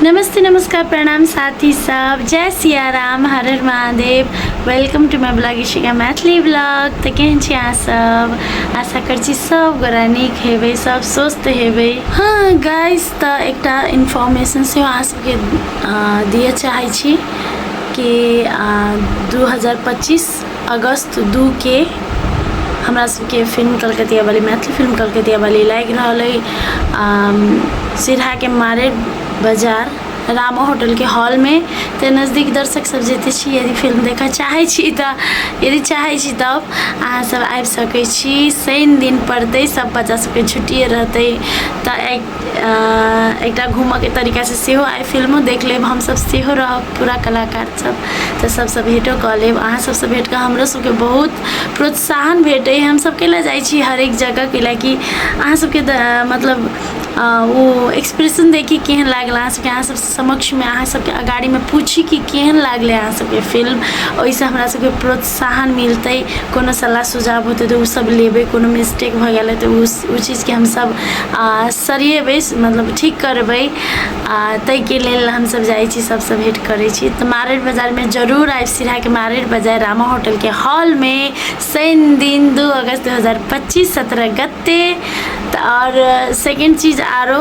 नमस्ते नमस्कार प्रणाम साथी सब जय सिया राम हर हर Mahadev welcome to my blog Ishika Maithili blog तऽ केहन छी अहाँ सब आशा कर छी सब गोरा नीक हेबै सब स्वस्थ हेबै हाँ गाइस तऽ एकटा इन्फॉर्मेशन से अहाँ सबके अ, दिअ चाहै छी कि अ, 2025 अगस्त दू के हमरा सबके फिल्म कलकतिया वाली मैथिल फिल्म कलकतिया वाली लागि रहल अइ सिरहाके मारे बाजार रामा होटलके हॉलमे तऽ नजदीक दर्शक सब जते छी यदि फिल्म देखऽ चाहै छी तऽ यदि चाहै छी तब अहाँ सब आबि सकै छी शनि दिन पड़तै सब बच्चा सबके छुट्टिए रहतै तऽ एकटा घूमऽके तरीकासँ सेहो आइ फिल्मो देख लेब हमसब सेहो रहब पूरा कलाकार तऽ सभसँ भेटो कऽ लेब अहाँ सभसँ भेट कऽ हमरो सभके बहुत प्रोत्साहन भेटैए हमसभ कयलए जाइ छी हरेक जगह कैलाकि अहाँ सभके तऽ मतलब ओ एक्सप्रेशन देखि केहन लागल अहाँ सभके अहाँ सभ समक्षमे अहाँ सभके अगाड़ीमे पूछी कि केहन लागलै अहाँ सभके फिल्म ओहिसँ हमरा सभके प्रोत्साहन साहन मिलतै कोनो सलाह सुझाव होतै तऽ ओसभ लेबै कोनो मिस्टेक भऽ गेलै तऽ ओ ओ चीजके हमसभ आ सरियेबै मतलब ठीक करबै आ ताहिके लेल हमसभ जाइ छी सभसँ भेँट करै छी तऽ मारैड बाजारमे जरूर आयब सिरहाके मारैड बाजार रामा होटलके हॉलमे शनि दिन दू अगस्त दू हजार पच्चीस सत्रह गते तऽ आओर सेकेण्ड चीज आरो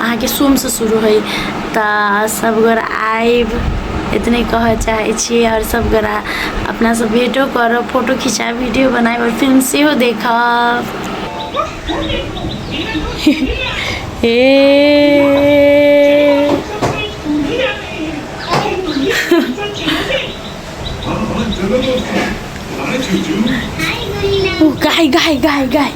अहाँके सोमसँ शुरू होइ तऽ सभगोरा आएब एतने कहऽ चाहै छी आओर सभगोरा अपनासँ भेटो करब फोटो खिचाएब वीडियो बनाएब आओर फिल्म सेहो देखब हे गाई गाई गाई गाई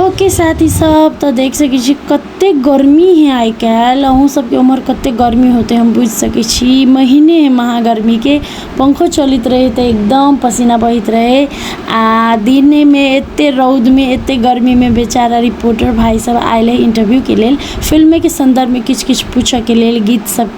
ओके साथी सब तऽ देख सकै छी कते गर्मी है आइ काल्हि अहूँ सबके उम्हर कते गर्मी होते हम बुझि सकै छी महीने है महागर्मीके पंखो चलैत रहै तऽ एकदम पसीना बहैत रहै आ दिनेमे एते रौदमे एते गर्मीमे बेचारा रिपोर्टर भाई सब आयल है इंटरव्यूके लेल फिल्मेके सन्दर्भमे किछु किछु पूछऽके लेल गीत सब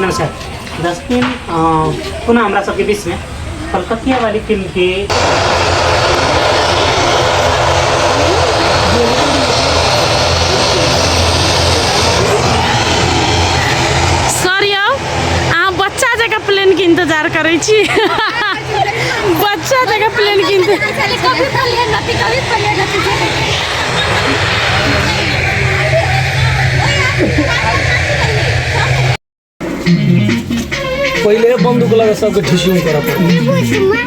नमस्कार दसदिन पुनः हमरा सबके बीचमे कलकतिया वाली फिल्मके इंतजार करे छी बच्चा जगह प्लेन किनते पहिले बन्दुक लगा सबके ठिसिङ कर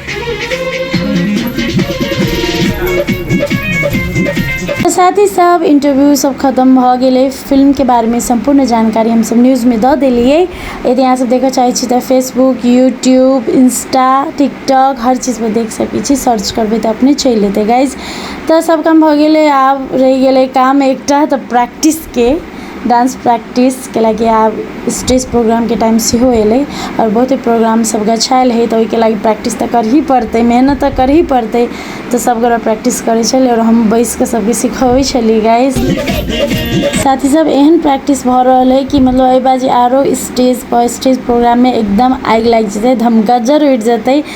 साथ ही सब इंटरव्यू सब खत्म भ गए फिल्म के बारे में संपूर्ण जानकारी हम सब न्यूज में द दिलिए यदि यहाँ सब देख चाहे तो फेसबुक यूट्यूब इंस्टा टिकटॉक हर चीज में देख सके सर्च करबे तो अपने चल लेते गाइज तऽ सब काम भऽ गेलै आब रहि गेलै काम एकटा तऽ प्रैक्टिसके डान्स प्रैक्टिस कैलाकि आब स्टेज प्रोग्रामके टाइम सेहो एलै आओर बहुते प्रोग्राम सब गछायल है तऽ ओहिके लागी प्रैक्टिस तऽ करही पड़तै मेहनत तऽ करही पड़तै तऽ सब गोरा प्रैक्टिस करै छलै आओर हम बैस कऽ सबके सिखबै छलियै गाइस साथी सब एहन प्रैक्टिस भऽ रहल है कि मतलब एहि बाजी आरो स्टेज पर स्टेज प्रोग्राममे एकदम आगि लागि जेतै धमगज्जर उठि जेतै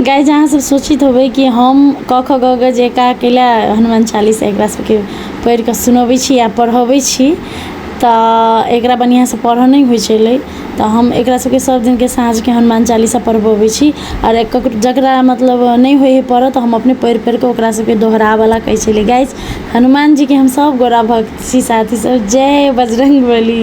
गाय जहाँ सब सोचित होबै कि हम क ख ग ग जे का कैला हनुमान चालीस एकरा सबके पढ़ि कऽ सुनबै छी आ पढ़बै छी तऽ एकरा बढ़िऑं से पढ़ऽ नहि होइ छलै तऽ हम एकरा सबके सब दिन के साँझ के हनुमान चालीसा पढ़बबै छी आओर जकरा मतलब नहि होइ है पढ़ऽ तऽ हम अपने पढ़ि पढ़ि कऽ ओकरा सबके दोहराबऽ लए कहै छलियै गाइस हनुमान जी के हम सब गोरा भक्त छी साथी सब जय बजरंगबली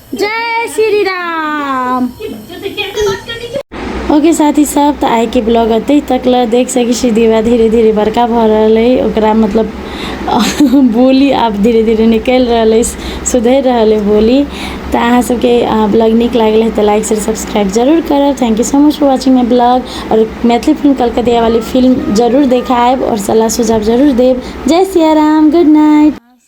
जय श्री राम ओके साथी सब तऽ आइके ब्लॉग अतै तक लए देख सकै छी दीवा धीरे धीरे बड़का भऽ रहल अइ ओकरा मतलब बोली आब धीरे धीरे निकलि रहल अइ सुधरि रहल अइ बोली तऽ अहाँ सबके ब्लॉग नीक लागल है तऽ लाइक शेयर सब्सक्राइब जरूर करब thank you so much for watching my blog और मैथिली फिल्म कलकतिया वाली फिल्म जरूर देखायब और सलाह सुझाव जरूर देब जय सिया राम गुड नाइट